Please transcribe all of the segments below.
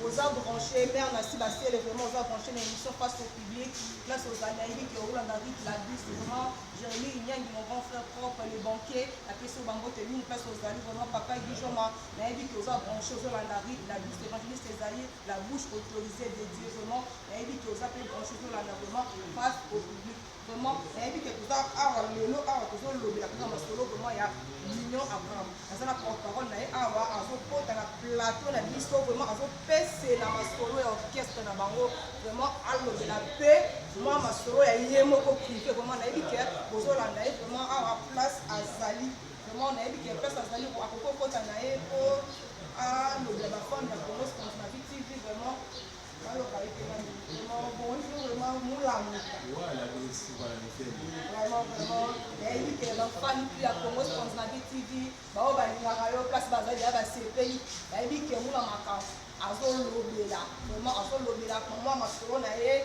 oza branche mère nasi basele vraiment oza branche na émission face au public place ozali nayebi ke olanda rit la bus vraiment jeremi inyangi mon grand frère propre le banquier apesi yo bango te mingi place ozali vraiment papa gijoma nayebi ke oza branche ozolanda rit la bus évangéliste ezali La bouche autorisee de Dieu vraiment nayebi ke oza pe branche tolanda vraiment face au public vraiment nayebi ke toza awa lelo awa tozolobela kaka masolo vraiment ya mignon abraham aza na porte parole na ye awa azokota na plateau na biso vraiment azopesela masolo ya orchestre na bango vraiment alobela mpe mwa masolo ya ye moko prive vraiment nayebi ke bozolanda ye vraiment awa place azali Vraiment nayebi ke pesa azali akoki kokota na ye mpo alobela bafane ya Congo Sponge na BTV vraiment baloba ye mpenza vraiment bonjour vraiment molamuka vraiment vraiment nayebi ke bafane mpe ya Congo Sponge na BTV baoyo balingaka yo place bazali ya basepeli bayebi ke mula makambo azolobela vraiment azolobela mwa masolo na ye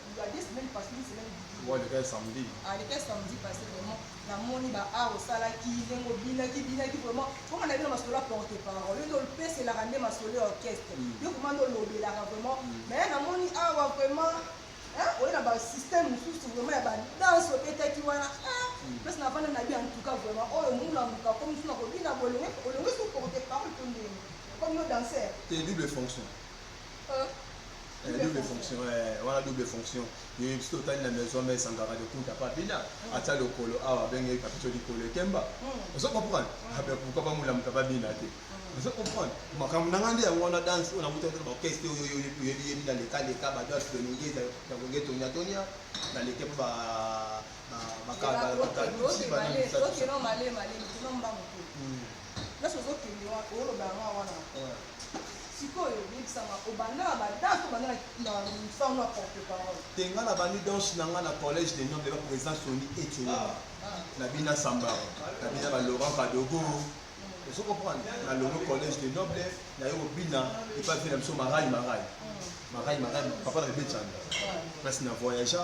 Il y a deux semaines passées, une semaine didi. Ouais, le cas est samedi. Ah, le cas est samedi passé, vraiment. Na moni ba a osala ki lengo bina ki bina ki vraiment. Comment na bino masolo a porte parole. Yo ndol pese la rande masolo orchestre. Yo comment ndol lobela vraiment. Mais na moni a wa vraiment oye na basystème mosusu vraiment ya badanse obetaki wana place na vanda na bi en tout cas vraiment oyo muna moka komi suna kobina bolongi olongi su porte parole to ndenge comme no danser te double fonction Eh, double fonction eh, wana double fonction ye biso totali na maison mais esangaka de kunta papina hmm. ata lokolo awa abengeki kapito likolo ekemba hmm. ozo comprendre hmm. abe ah, pourquoi bamulamuka babina te ozo comprendre makambo na ngai nde yango wana danse oyo nakuta te baorchestre oyo oyebiyebi na leka leka badanse de longe ya konge tonia tonia na leke mpo bakabaa Sikoyo yebisa nga obanda na ba danse obanda na musala na porte parole? Te nga na bandi danse na nga na collège des nobles ba president Sony Etienne ah, ah. na bina samba na bina ba Laurent Kadogo ozo comprendre na longo collège des nobles na yo bina epa vina biso marai marai marai marai papa na bebetanga place na voyagea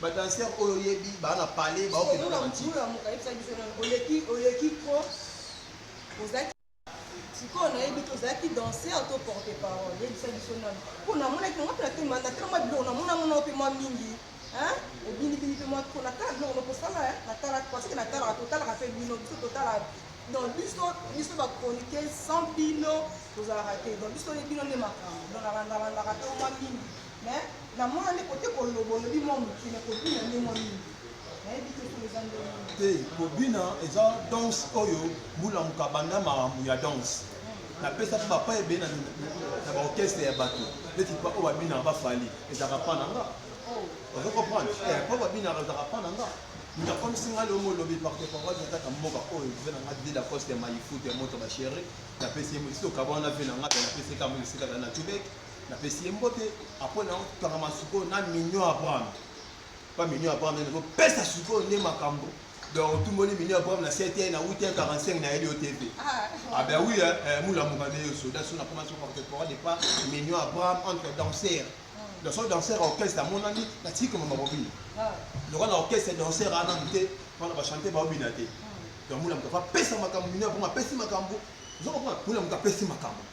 ba dancer oyo yebi ba na palais ba okende na mati nzula muka yebisa biso na oleki oleki ko ozaki sikoyo nayebi te ozalaki danser to porte parole yebisa biso nano mpo namonaki yango mpe natema natala mwa biloko namona mona mpe mwa mingi obinibini mpe mwa ko natala biloko nakosala natala paseke natalaka totalaka mpe bino biso totalaka donc biso biso bacronike sans bino tozalaka te donc biso bino nde makambo donc nalandalandaka mpe mwa mingi Mais na mona nde kote koloba olobi mwa moke mais kobina nde mwa mingi nayebi te soki eza ndenge nini. te kobina eza danse oyo bulamuka banda makambo ya danse napesaki bapa ebele na, na, na baorchestre ya bato neti pa oyo babinaka bafali ezalaka pa na nga Oh, ozo comprendre Eh, po babinaka ezalaka pa na nga moto akomisi nga leo molobi parte parole nataka mboka oyo ve na nga dila coste ya mayifutu ya moto basheri napesi ye mosi okaba wana ve na nga pe napesi kama esika za na tubeke napesi ye mbote apres na kangama sikoyo na mignon abraham pa mignon abraham nde nakopesa sikoyo nde makambo donc otumboli mignon abraham na cte na wuti 45 na yeli yo te mpe abe wi molamuka nde yo soda so nakoma so contemporain de pa mignon abraham entre danser hmm. donc so danser ya orchestre amonani natiki komama kobina ah. lokola na orchestre danser ana mote mpona bachante baobina te hmm. donc molamuka apesa makambo mignon abraham apesi makambo ozokomona molamuka apesi makambo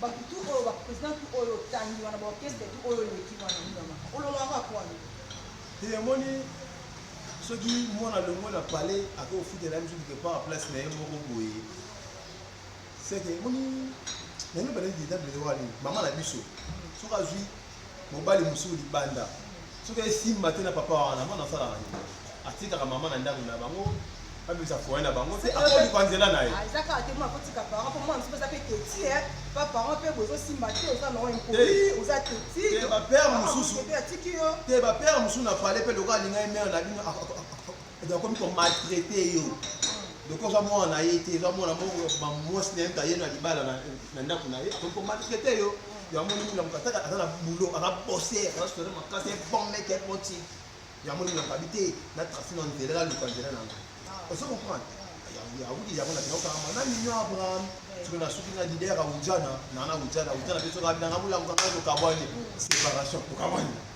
Batu tout oyo ba president tout oyo otangi wana ba orchestre tout oyo eleki wana minama ololaka kwani te omoni soki mwana longo na palais akoki kofutela biso quelque part place na ye moko boye seke omoni nayebi bana dedable wana nini mama na biso soki azwi mobali mosusu libanda soki esimba te na papa wana mwana asalaka nini atikaka mama na ndako na bango abimisa foye na bango te akoluka nzela na ye ah, eza kaka te mwa akotika parent mpo mwana mosusu eza mpe teti eh. pa parent mpe bozosimba te oza na impoli oza teti bapere mosusu te bapere mosusu na pale mpe lokola alinga ye mere na bino edo akomi ko maltraite yo loko oza mwana na ye te eza mwana moko mwasi na ye aye na libala na ndako na ye akomi ko maltraite yo yango nini na mokataka aza na boulot aza bosse aza solo makasi bon mec est bon type yango nini nakabi te na trace na nzela na luka nzela na nga ozo comprendre yawudi yango na kinoko kama na mignon abraham soki na suki na leader ya ujana na na ujana ujana pe soki abinanga mulango kaka tokabwani séparation tokabwani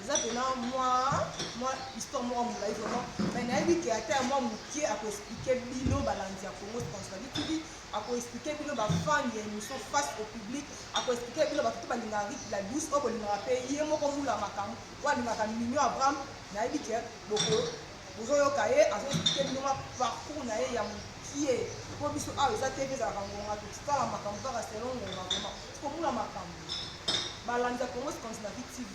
eza pena mwa mwa histoire moko molai vraiment mai nayebi ke ata ya mwa moke akoexplike bino balandi ya congo sponsoali tv akoexplike bino bafan ya émission face au public akoexplike bino bato to balingaka rite la douce oyo bolingaka mpe ye moko mula makambo oyo alingaka mignon abraham nayebi ke boko bozoyoka ye azoexplike bino mwa parcours na ye ya mokie mpo biso awa eza te mpe ezalaka ngonga tokitala makambo kaka selon ngonga vraimen tokomula makambo balandi ya congo sponsoali tv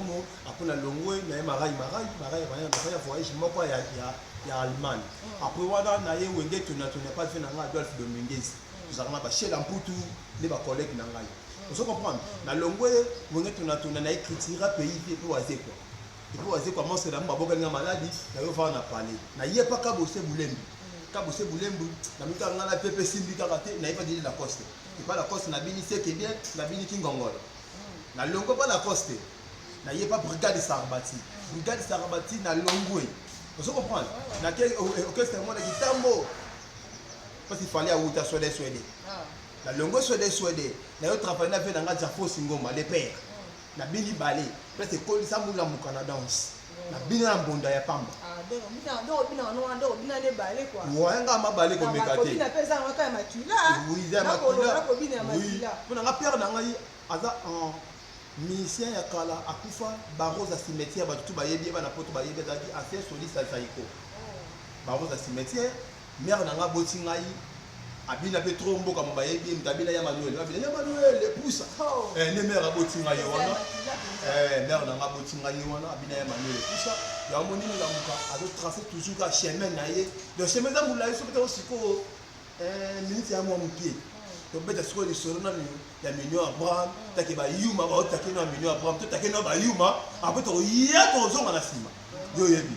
Congo après na longwe na ye marai marai marai marai na ya voyage moko ya ya ya Allemagne mm. après wana na ye wenge tuna tuna pas fait na nga Adolf Dominguez tozaka na ba chez la mputu ne ba collègue na ngai mm. ozo comprendre mm. na longwe wenge tuna tuna na ye critique pays pe pe waze quoi et puis waze quoi monstre na mba boka nga maladi na yo va na parler na ye pas ka bosser bulembi ka bosser bulembi na mika nga na pepe simbi kaka te na ye pas dire la coste et pas la coste na bini c'est que bien na bini kingongolo Na longwe pa Lacoste. Na ye pa Brigade Sarbati. Brigade Sarbati na longwe. Ozo comprendre? Na ke orchestre mona kitambo. Parce qu'il fallait awuta swede swede. Na longwe swede swede. Na yo travailler na vie na nga Jafo Singoma le père. Na bini bale. Parce que kolisa mula mukana danse. Na bina na mbonda ya pamba. Ah, donc obina donc obina wana wana donc obina ne bale quoi. Ouais, nga ma bale ko meka te. Obina pe za nga ya makila. Oui, za makila. Ko bina ya makila. Oui. Pona nga père na ngai aza en musicien ya kala akufa barosa cimetière bato tu bayebi ye bana poto bayebi azalaki ancien soliste ya zaiko oh. barosa cimetière Mère na nga aboti ngai abina pe trop mboka mo bayebi ye moto abina ya manuel babina ya manuel epusa oh. eh, nde mère aboti ngai ye wana eh, mère na nga aboti ngai ye wana abina ya manuel epusa yango moni molamuka azotrace toujours ka chemin na ye donc chemin eza molai soki tango sikoyo eh, minute ya mwa moke tobeta sikoyo lisolo na ya mignon abraham take bayuma baotake na mignon abraham totake na bayuma apres tokoya tokozonga na nsima yo oyebi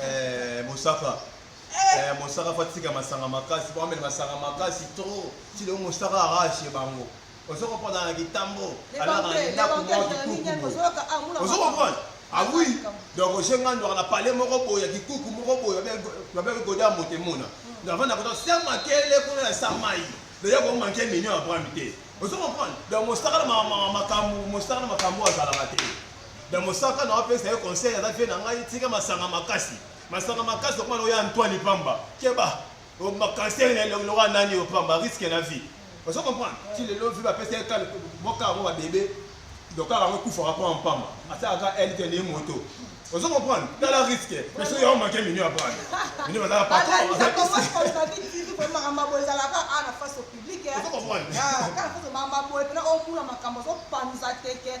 Eh, mosaka eh, mosaka fo atika masanga makasi po amela masanga makasi trop ti lelo mosaka arashe bango ozo comprendre na kitambo alaka na ndako moko kikuku ozo comprendre ah oui donc oje nga ndwaka na pale moko boye ya kikuku moko boye babeke gode ya moto emona hmm. donc avanda koto se makele kuna na sa mai deja komanke mignon ya brami te ozo comprendre donc mosaka na makambo mosaka na makambo azalaka te Na mosaka na opesa ye conseil aza vie na ngai tika masanga makasi. Masanga makasi okoma na oya Antoine Pamba. Keba. O makanser na elongi loka nani yo Pamba risque na vie. Ozo comprendre? Ti lelo vie ba pesa ye kale boka yango ba bebe. Donc kaka yango kufa rapport en Pamba. Asa aka elle te ni moto. Ozo comprendre? Tala risque. Mais soki yo manquer minu ya brand. Minu baza patron. Baza kisi. makambo boye ezalaka a na face au public kaka foto makambo boye mpena omuna makambo ozopanza teke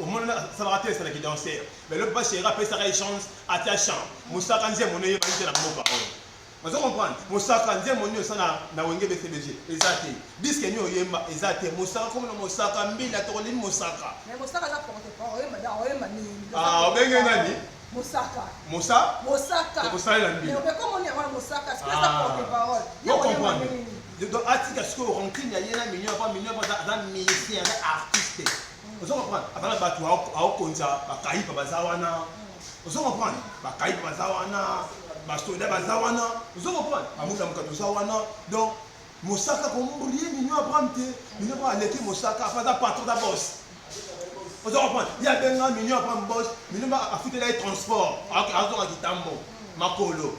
omoni na salaka te esala ki danser mais lobi ba chéri apesaka ye chance atia chant mosaka nzembo no eyebani te na mboka oyo ozo comprendre mosaka nzembo nini osa na, na wenge bcbg eza te diske nini oyemba eza te mosaka komi na mosaka mbila tokolimi mosaka ah, obenge nani mosaka mosa mosaka ekosalela mbila donc atika sikoyo rancune ya ye na mignon po mignon aza musicien aza artiste ozo comprendre aza na bato aokonza bakayipa baza wana ozo comprendre bakayipa baza wana basoda baza wana ozo comprendre bamuta mokato oza wana donc mosaka komurie mino abraham te mino abraham aleki mosaka afa aza patron da bos ozo comprendre ye abenga mino abraham bos mino afutela ye transport azonga kitambo makolo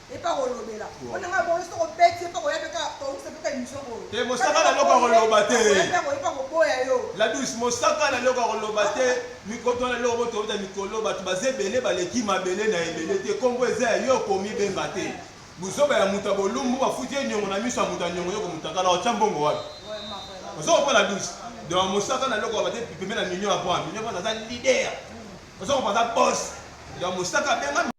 epa kolobela wana nga bolo soko beti epa koya peka tokuse peka emission oyo te mosaka na loko koloba te epa koboya yo la douce mosaka na loko koloba te mikoto na loko boto bota mikolo bato baze ebele baleki mabele na ebele te kombo eza ya yo komi benga te buzoba ya muta bolumbu bafuti ye nyongo na miso ya muta nyongo yoko mutakala otya mbongo wapi ozo kompa la douce donc mosaka na loko bate pembe na mignon ya point mignon point aza leader ozo kompa aza boss donc mosaka benga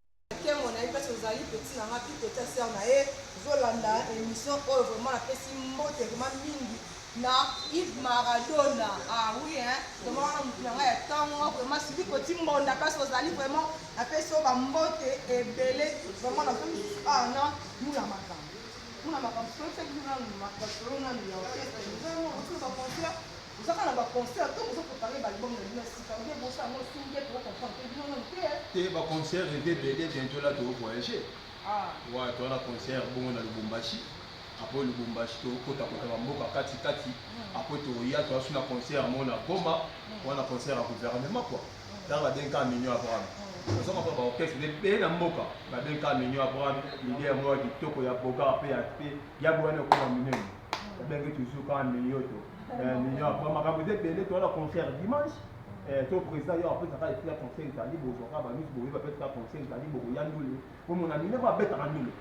Nkembo na ye pasi ozali petit na nga pi petit sœur na ye zolanda émission oyo vraiment na pesi mbote vraiment mingi na Yves Maradona ah oui hein vraiment wana mutu na nga ya tango vraiment sili koti mbonda pasi ozali vraiment na pesi yo ba mbote ebele vraiment na komi ah na mula makambo mula makambo solo seki mula makambo solo na mula orchestre nous avons reçu ba concert Bozaka na ba concert to bozo prepare ba album na bino ya sika ou bien bosa yango sous bien toko comprendre te bino nanu te eh. Te ba concert eza ebele bientôt là toko voyager. Ah. Ouais, toza na concert bongo na Lubumbashi. Après Lubumbashi tokota kota ba mboka kati kati. Après toya toza sous na concert mo na Goma. Wana concert ya gouvernement quoi. Tala ba denka mignon Abraham. Ozo mapa ba orchestre de pe na mboka. Ba denka mignon Abraham, idée ya mwa kitoko ya boka pe ya pe ya bwana ko na minene. Babengi toujours kaka Minyoto. Eh, Minyoto, ba makambo eza ebele, toza na concert dimanche. Eh, to président yo apesa kaka epi ya conseil ezali bozwa kaka banusu boye bapesa kaka conseil ezali bokoya ndule bomona minoko abetaka ndule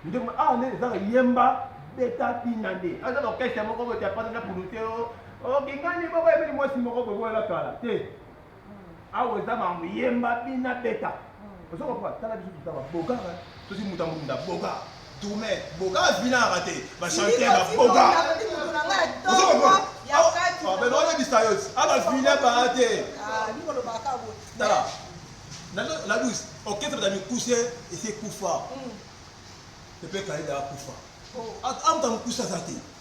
ndeko awa nde ezaka yemba beta bina nde aza na orchestre moko bote apasa na pulute o okingani moko ebeli mwasi moko boye boyela kala te awa eza mambo yemba bina beta ozo comprendre tala biso tutaba boga tosi muta munda boga tourne boga vinaka te ba chanter ba boga ozo comprendre abe no yebisa yo aba vina ba te tala la douce orchestre da mikuse ese kufa epe kaida akufa amuta mukuse aza te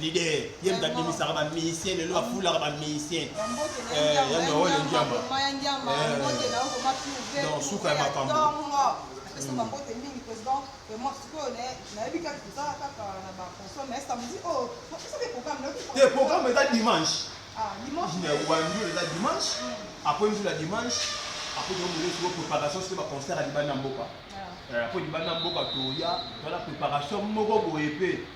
leader ye moto abimisaka bamusicien lelo afulaka bamusicien ya noro le ndiamba donc suka ya makambo te programme eza dimanche wandi eza dimanche apres nzula dimanche apres tomoleso préparation soki baconcert ya libanda mboka apres libanda mboka toya tozala préparation moko boye mpe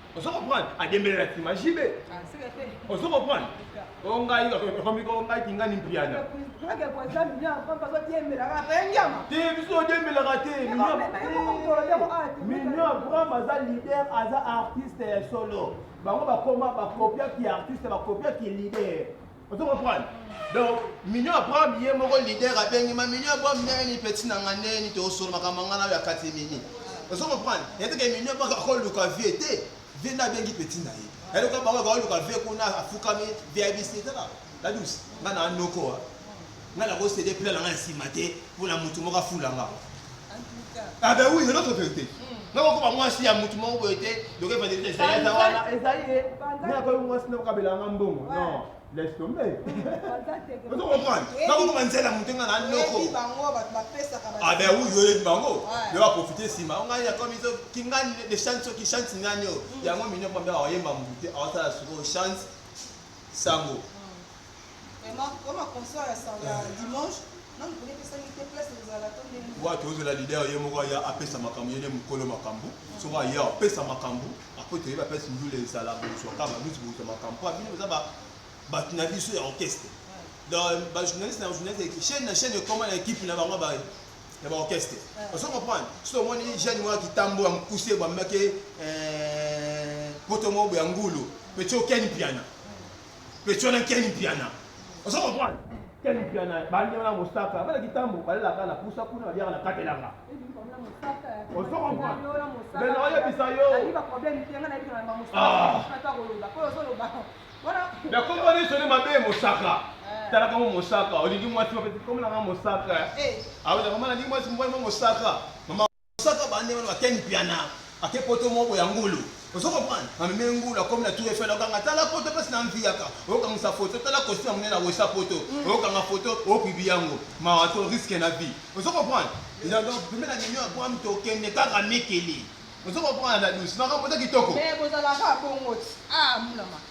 Ozo comprendre? Adembele na sima JB. Ozo comprendre? Ongai okomi ko ngai kingani mpiana. Te biso odemelaka te. Mignon Abraham aza leader, aza artiste ya solo. Bango bakoma bakopiaki artiste, bakopiaki leader. Ozo comprendre? Donc, Mignon Abraham ye moko leader abengi ma Mignon Abraham neni petit na nga neni to osolo makambo nga na ya kati mini. Ozo comprendre? Yete ke Mignon baka ko luka vie te. Vie na bengi petit na ye. Elle ko bango ko luka vie kuna afukami vie abisi tala. La douce. Nga na noko. Nga na ko cede plan na nga ya sima te mpo na mutu moko afula nga. Ah ben oui, c'est notre vérité. Nako koba mwasi ya mutu moko boye te, donc evandeli te ezali eza wana, ezali ye. Nga koyi mwasi na kokabela nga mbongo. Non, laisse tomber. Ozo comprendre? Nako koba nzela mutu nga na noko. Ah ben oui, oyebi bango. Yo ba profiter sima. Nga ya komi zo kingani de chance ki chance nani yo. Yango minyo pamba oyemba mutu te, awasala soko chance sango. watu ozela leader ye moko aya apesa makambo yene mokolo makambo soko aya apesa makambo apo toyebi apesi ndule ezala bozwaka baluti bozwa makambo po abino boza bato na biso ya orchestre bajournaliste na journaliste chaine na chaine ekoma na ekipe na bango baye ya baorchestre ozo comprendre soki omoni jeune moko ya kitambo ya mokuse eh, bamaki poto moko boya ngulu peti okeni piana Petit wana Ken Mpiana. Ozo comprendre? Ken Mpiana bandi wana Mosaka, bana kitambo balelaka na pusa kuna baliaka na katelanga. Ozo comprendre? Mais na oyebisa yo. Ah. Na kombo ni soni mabe Mosaka. Eh. Tala kama Mosaka, olingi mwasi mabe, komela nga Mosaka. Eh. Awe na komana lingi mwasi mbwa Mosaka. Mama Saka bande wana ba ken piana ake poto moko ya ngulu ozo comprendre ameme ngulu akomi na tour eiffel okanga tala poto pasi na mviyaka okangisa photo tala costume amene na wesa poto mm. okanga photo opibi yango mawa to risque na vie ozo comprendre ina donc pembe na ninyo ya bwam tokende kaka mikili ozo comprendre na douce makambo eza kitoko mais bozalaka bongo ah mulama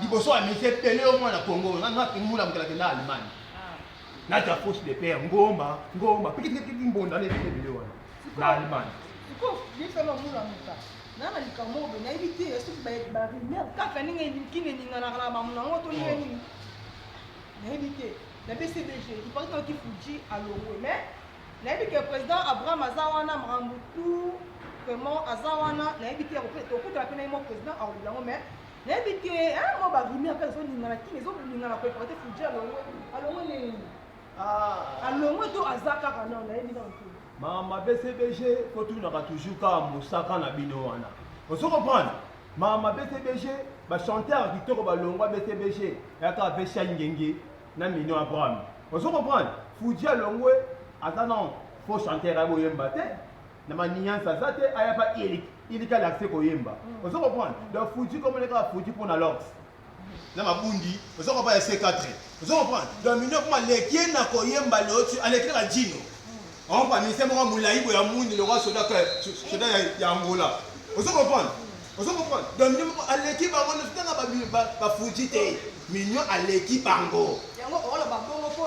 liboso ya misi epele yo mwana kongo ngula mokela kenda allemagne naza fausse de père ngomba ngomba pikipiki mbonda na ebele ebele wana na allemagne nana likambo oyo nayebi te soki barumeur kaka ndenge elikini eninganaka na bamona yango to ndenge nini nayebi te na bcbg ipartaki fuji alongwe mais nayebi ke président abraham aza wana makambo tout vraiment aza wana nayebi te tokutana mpe na ye mwa président aolobi yango mais nayebi te hein moi ba rumeur kaka ezo ningana kin ezo ningana ko porter Fuji alongo alongo nini ah alongo to aza kaka non nayebi na te mama BCBG ko tunaka toujours kaka mosaka na bino wana ozo comprendre mama BCBG ba chanteur kitoko ba longwa BCBG yaka vesha ngenge na mino Abraham ozo comprendre Fuji alongwe aza non faux chanteur akoyemba te na maniansa aza te aya pa ilik ilik ala accès koyemba mm. ozo comprendre donc fuji comme leka fuji pona lox na mabundi ozo comprendre ya C4 ozo comprendre donc mino kuma lekie na koyemba lotu alekile ka jino mm. on pa mise moko mulayi boya mundi loka soda que soda ya Angola ozo comprendre mm. ozo comprendre donc mino moko aleki bango na tanga ba ba fuji te mino aleki bango yango oloba bongo po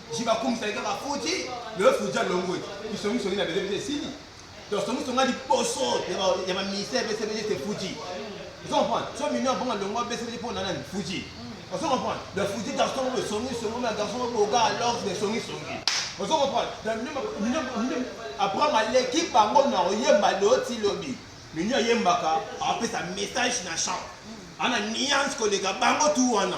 jiba kumisaki kaka fuji lelo fuji alongwe bisongisongi na bele biso esili donc songisongi ya liboso ya baministère bcbg te fuji ozo comprendre so mino abonga longwa bcbg mpo na nani fuji ozo comprendre donc fuji garçon oyo songisongi na garçon oyo boga alors de songisongi ozo comprendre donc abraham aleki bango na oyemba loti lobi mino ayembaka apesa message na champ ana nuance koleka bango tu wana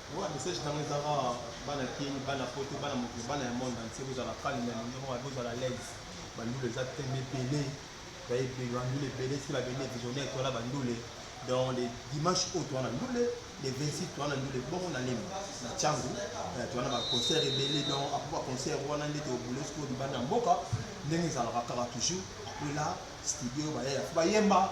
Oyo message tango eza ka bana kin bana poto bana mokili bana ya monde entier bozala calme na ninga moko bozala l'aise bandule eza tembe ebele baye ebele bandule ebele si ba bende visionnaire to la bandule donc le dimanche oyo toana ndule le 26 toana ndule bongo na lemi na changu eh, toana ba concert ebele donc après ba concert wana nde tobule sikoyo libanda ya mboka ndenge ezalaka kaka toujours après la studio bayaya bayemba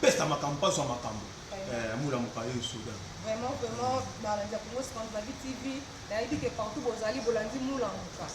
pesa makambo mpaso ya makambo eh, mula mokayo esoda vraiment vraiment balandi ya congo scandinavie tv nayebi ke partout bozali bolandi mula moka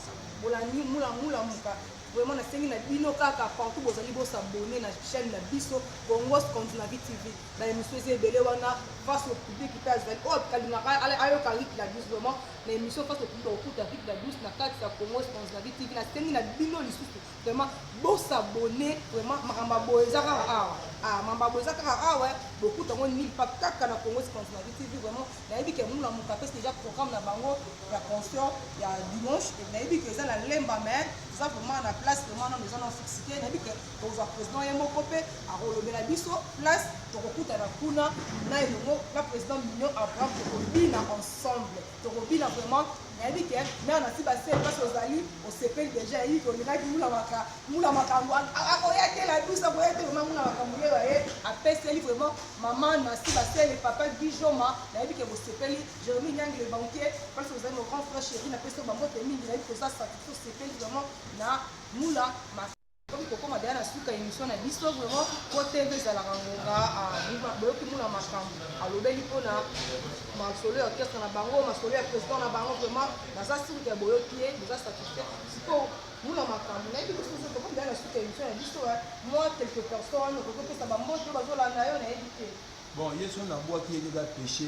bolandi mula mula moka vraiment nasengi na bino kaka partout bozali bosabone na chaîne na biso congo scandinavie tv baémission eza ebele wana face au public mpe azali oyo oh, kalingaka ayoka rik la douce vraiment na émission face au public okuta rik la douce na kati ya congo scandinavie tv nasengi na bino lisusu Vraiment bo s'abonner vraiment makamba boye eza kaka awa ah makamba boye eza kaka awa bokuta yango nil pa kaka na Congo Scandinavie TV vraiment nayebi ke muna moto apesi déjà programme na bango ya concert ya dimanche et nayebi ke eza na lemba mais eza vraiment na place vraiment nano eza na fixe te nayebi ke tozwa président ye moko mpe akolobela biso place tokokutana kuna na elongo na président mignon abraham tokobina ensemble Tokobina vraiment nayebi ke mère na siba se place ozali osepeli deja yebi ke olingaki mula maka mula makambo akoya te la douce akoya te vraiment mula makambo yeyo aye apeseli vraiment maman na siba se le papa gijoma nayebi ke bosepeli jeremi nyangi le banquier place ozali mon grand frère chéri napesi yo bambote mingi nayebi koza satisfait osepeli vraiment na mula maka Tokomi kokoma deja na suka emission na biso vraiment po TV ezalaka ngonga ah, boyoki muna makambo alobeli mpo na masolo ya orchestre na bango masolo ya président na bango vraiment naza sirke ya boyoki ye boza satisfait sikoyo muna makambo nayebi lisusu tokomi deja na suka emission na biso eh. moi quelque personne okoki opesa bambote oyo bazolanda yo nayebi te bon yesu nabwaki ye kaka péché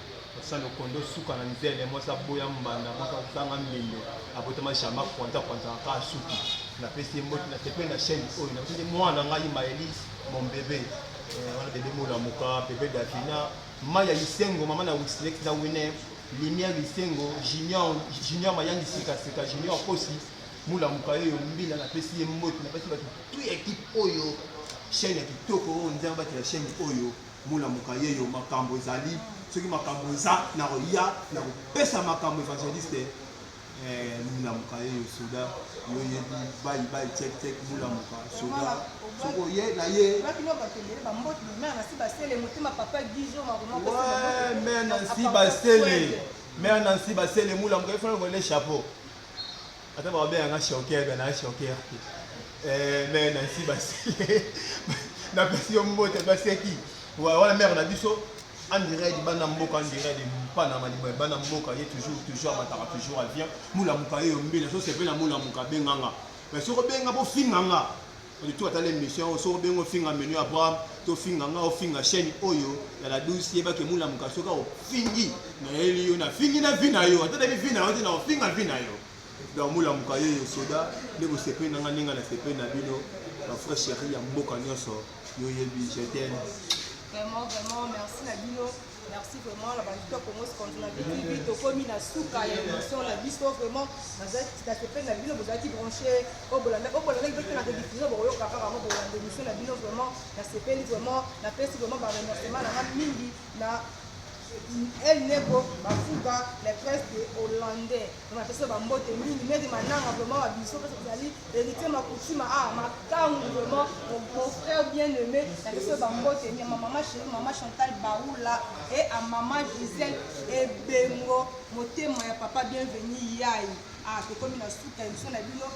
Osali okondo suka na nzele mwasi aboya mbanda mwasi azanga mbindo abotama jama kwanza kwanza aka suki na pesi ye mbote na sepeli na chaîne oyo na pesi mwana ngai maeli mon bebe eh, wana bebe molamuka bebe davina mai ya lisengo mama na wislex na wine lumière lisengo junior junior mayangi sika sika junior kosi molamuka yeyo mbila na pesi ye mbote na pesi bato tu ya ekipe oyo chaîne ya kitoko oyo nzambe batela chaîne oyo Mona moka ye yo makambo ezali soki makambo eza na koya na kopesa makambo evangeliste eh, mona moka ye yo soda yo yebi bayi bayi check check mona moka soda soki oye na ye mère nansi basele mère nansi basele mona moka efana kole chapeau Ata ba obe anga choquer ba na choquer te. Eh mais na si ba si. Na pesi yo mbote ba seki. Wa wala mère na biso en direct bana mboka en direct mpana maliba bana mboka ye toujours toujours amataka toujours avient mulamuka ye yo mbila so sepela mulamuka benganga mais soki obenga bofinga nga Oli tu atala emission oyo soki obengi ofinga menu ya Abraham to finga nga ofinga chaîne oyo ya la douce yeba ke mula muka soki ofingi na yeli yo na fingi na vie na yo ata nabi vie na yo te na ofinga vie na yo donc mula muka yo yo soda nde bosepeli na nga ninga na sepeli na bino ba frère chéri ya mboka nyonso yo yebi je t'aime vraiment vraiment merci na bino Merci vraiment na bandito Congo Scandu na BTV tokomi na suka ya émission na biso vraiment nazalaki nasepeli na bino bozalaki branché oyo bolanda oyo bolanda kibete na rediffusion bokoyoka kaka yango bolanda émission na bino vraiment nasepeli vraiment napesi vraiment ba remerciement na nga mingi na El Nego Bafuga la presse de hollandais Napesa ba mbote mingi meri mananga vraiment wa biso pesa tozali héritier makutima ah makangu vraiment mon frère bien aimé napesa ba mbote mingi ma maman chérie maman Chantal Baoula et à maman Gisèle Ebengo motema ya papa bienvenue yayi ah tokomi na suka émission na bino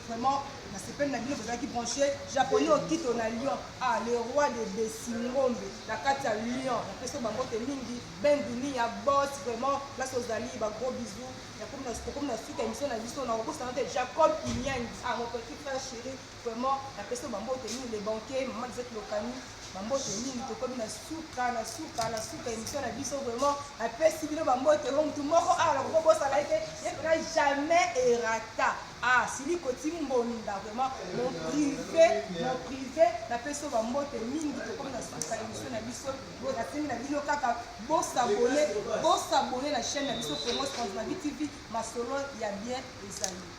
vraiment nasepeli na bino bozalaki branche japonais okito na lyon ah le roi de besingombe na kati ya lyon napesi bango te mingi Ben Dunia boss vraiment place ozali ba gros bisous nakomi na tokomi na suka émission na biso na kobosana te Jacob Kinyangi ah mon petit frère chéri vraiment na pesi ba mbote ni le banquier maman Lisette Lokani ba mbote mingi tokomi na suka na suka na suka émission na biso vraiment na pesi bino ba mbote ho mutu moko awa na kobosana ete ye pena jamais erata ah sili koti mbonda vraiment mon privé mon privé na pesi ba mbote mingi tokomi na suka émission na biso Bon, nasengi na bino kaka bosabone bosabone na chaîne na biso Congo Scandinavie TV masolo ya bien ezali